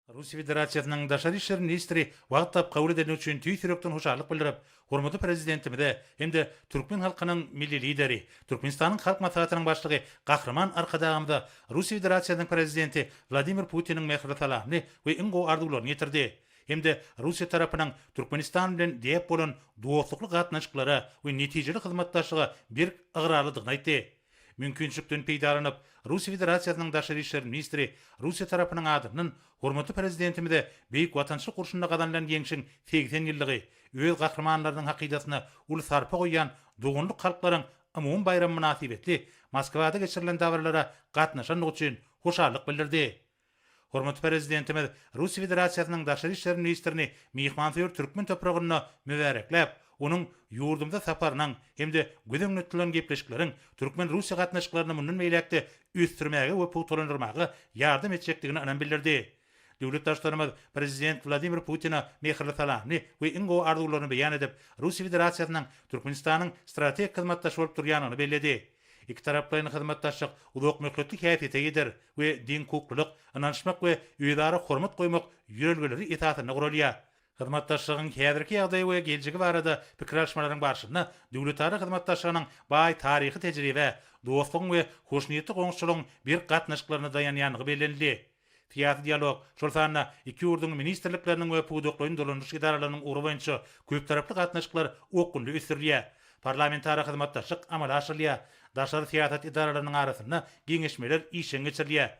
Russiýa Federasiýasynyň Daşary işler ministri wagt tapyp kabul edeni üçin tüýs ýürekden hoşallyk bildirip, hormatly Prezidentimize hem-de türkmen halkynyň Milli Lideri, Türkmenistanyň Halk Maslahatynyň Başlygy Gahryman Arkadagymyza Russiýa Federasiýasynyň Prezidenti Wladimir Putiniň mähirli salamyny we iň gowy arzuwlaryny ýetirdi hem-de Russiýa tarapynyň Türkmenistan bilen däp bolan dostlukly gatnaşyklara we netijeli hyzmatdaşlyga berk ygrarlydygyny aýtdy. Mümkinçilikden peýdalanyp, Russiýa Federasiýasynyň Daşary işler ministri Russiýa tarapynyň adyndan hormatly Prezidentimize Beýik Watançylyk urşunda gazanylan ýeňşiň segsen ýyllygy, öz gahrymanlarynyň hakydasyna uly sarpa goýýan doganlyk halklaryň umumy baýramy mynasybetli Moskwada geçirilen dabaralara gatnaşandygy üçin hoşallyk bildirdi. Hormatly Prezidentimiz Russiýa Federasiýasynyň Daşary işler ministrini myhmansöýer türkmen topragynda mübärekläp, onuň ýurdumyza saparynyň hem-de göz öňünde tutulan gepleşikleriň türkmen-russiýa gatnaşyklaryny mundan beýläk-de ösdürmäge we pugtalandyrmaga ýardam etjekdigine ynam bildirdi. Döwlet Baştutanymyz Prezident Wladimir Putine mähirli salamyny we iň gowy arzuwlaryny beýan edip, Russiýa Federasiýasynyň Türkmenistanyň strategik hyzmatdaşy bolup durýandygyny belledi. Ikitaraplaýyn hyzmatdaşlyk uzakmöhletli häsiýete ýeter we deňhukuklylyk, ynanyşmak we özara hormat goýmak ýörelgeleri esasynda guralýar. Hyzmatdaşlygyň häzirki ýagdaýy we geljegi barada pikir alyşmalaryň barşynda döwletara hyzmatdaşlygynyň baý taryhy tejribä, dostlugyň we hoşniýetli goňşuçylygyň berk gatnaşyklaryna daýanýandygy bellenildi. Syýasy dialog, şol sanda iki ýurduň ministrlikleriniň we pudaklaýyn dolanyş edaralarynyň ugry boýunça köptaraply gatnaşyklar okgunly ösdürilýär. Parlamentara hyzmatdaşlyk amala aşyrylýar, daşary syýasat edaralarynyň arasynda geňeşmeler işjeň geçirilýär.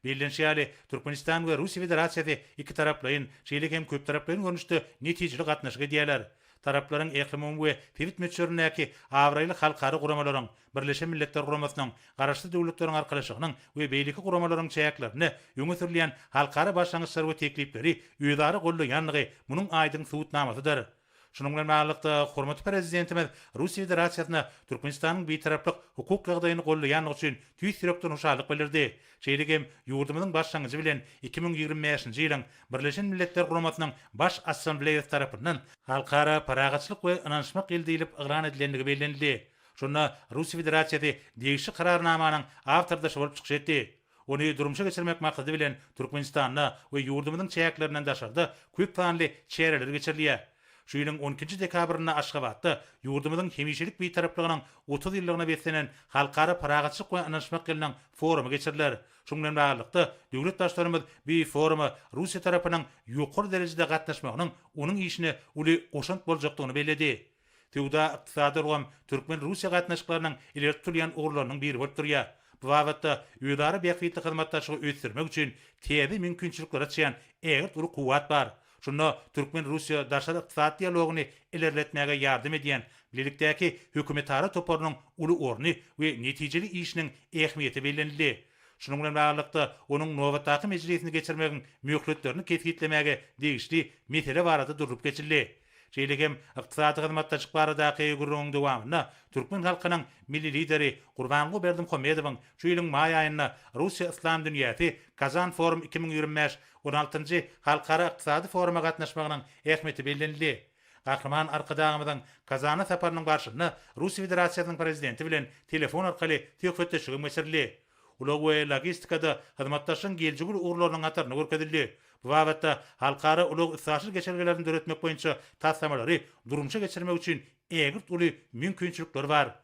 Bellenişi ýaly, Türkmenistan we Russiýa Federasiýasy ikitaraplaýyn, şeýle hem köptaraplaýyn görnüşde netijeli gatnaşyk edýärler. Taraplaryň ählumumy we sebit möçberindäki abraýly halkara guramalaryň, Birleşen Milletler Guramasynyň, Garaşsyz Döwletleriň Arkalaşygynyň we beýleki guramalaryň çäklerinde öňe sürülýän halkara başlangyçlary we teklipleri özara goldaýandygy munuň aýdyň subutnamasydyr. Şunuň bilen baglylykda, hormatly Prezidentimiz Russiýa Federasiýasyna Türkmenistanyň Bitaraplyk hukuk ýagdaýyny goldaýandygy üçin tüýs ýürekden hoşallyk bildirdi, şeýle hem ýurdumyzyň başlangyjy bilen iki müň ýigrimi bäşinji ýylyň Birleşen Milletler Guramasynyň Baş Assambleýasy tarapyndan Halkara parahatçylyk we ynanyşmak ýyly diýlip yglan edilendigi bellenildi. Şonda Russiýa Federasiýasy degişli Kararnamanyň awtordaşy bolup çykyş etdi. Ony durmuşa geçirmek maksady bilen Türkmenistanda we ýurdumyzyň çäklerinden daşarda köp sanly çäreler geçirilýär. Şu ýylyň on ikinji dekabrynda Aşgabatda ýurdumyzyň hemişelik Bitaraplygynyň otuz ýyllygyna beslenen Halkara parahatçylyk we ynanyşmak ýylynyň forumy geçiriler. Şunuň bilen baglylykda, döwlet Baştutanymyz bu foruma Russiýa tarapynyň ýokary derejede gatnaşmagynyň onuň işine uly goşant boljakdygyny belledi. Söwda-ykdysady ulgam türkmen-russiýa gatnaşyklarynyň ileri tutulýan ugurlarynyň biri bolup durýar. Bu babatda özara bähbitli hyzmatdaşlygy ösdürmek üçin täze mümkinçilikleri açýan ägirt uly kuwwat bar. Şunda türkmen-russiýa daşary ykdysady dialogyny ilerletmäge ýardam edýän Bilelikdäki hökümetara toparynyň uly orny we netijeli işiniň ähmiýeti bellenildi. Şunuň bilen baglylykda, onuň nobatdaky mejlisini geçirmegiň möhletlerini kesgitlemäge degişli mesele barada durlup geçildi. Şeýle hem Ykdysady hyzmatdaşlyk baradaky gürrüňiň dowamynda türkmen halkynyň Milli Lideri Gurbanguly Berdimuhamedowyň şu ýylyň maý aýynda Russiýa Yslam dünýäsi Kazan Forum iki müň ýigrimi bäş on altynjy halkara ykdysady foruma gatnaşmagynyň ähmiýeti bellenildi. Gahryman Arkadagymyzyň Kazana saparynyň barşynda Russiýa Federasiýasynyň Prezidenti bilen telefon arkaly söhbetdeşligem geçirildi. ulag we logistikada hyzmatdaşlygyň geljegi uly ugurlarynyň hatarynda görkezildi. Bu babatda halkara ulag-üstaşyr geçelgelerini döretmek boýunça taslamalary durmuşa geçirmek üçin ägirt uly mümkinçilikler bar.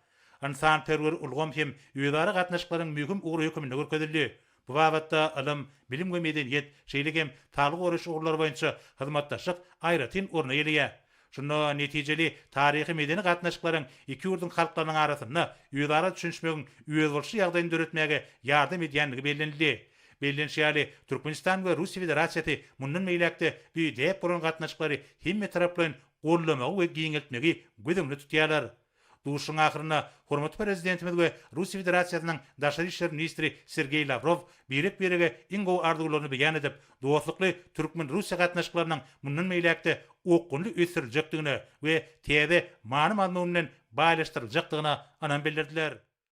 Ynsanperwer ulgam hem özara gatnaşyklaryň möhüm ugry höküminde görkezildi. Bu babatda ylym, bilim we medeniýet, şeýle hem saglygy goraýyş ugurlary boýunça hyzmatdaşlyk aýratyn orun eýeleýär. Şunda netijeli taryhy-medeni gatnaşyklaryň iki ýurduň halklarynyň arasynda özara düşünişmegiň özboluşly ýagdaýyny döretmäge ýardam edýändigi bellenildi. Bellenişi ýaly, Türkmenistan we Russiýa Federasiýasy mundan beýläk-de düýdäp bolan gatnaşyklary hemmetaraplaýyn goldamagy we giňeltmegi göz öňünde tutýarlar. Duşuşygyň ahyrynda hormatly Prezidentimiz we Russiýa Federasiýasynyň Daşary işler ministri Sergeý Lawrow birek-birege iň gowy arzuwlaryny beýan edip, dostlukly türkmen-russiýa gatnaşyklarynyň mundan beýläk-de okgunly ösdüriljekdigine we täze many-mazmun bilen baýlaşdyryljakdygyna ynam bildirdiler.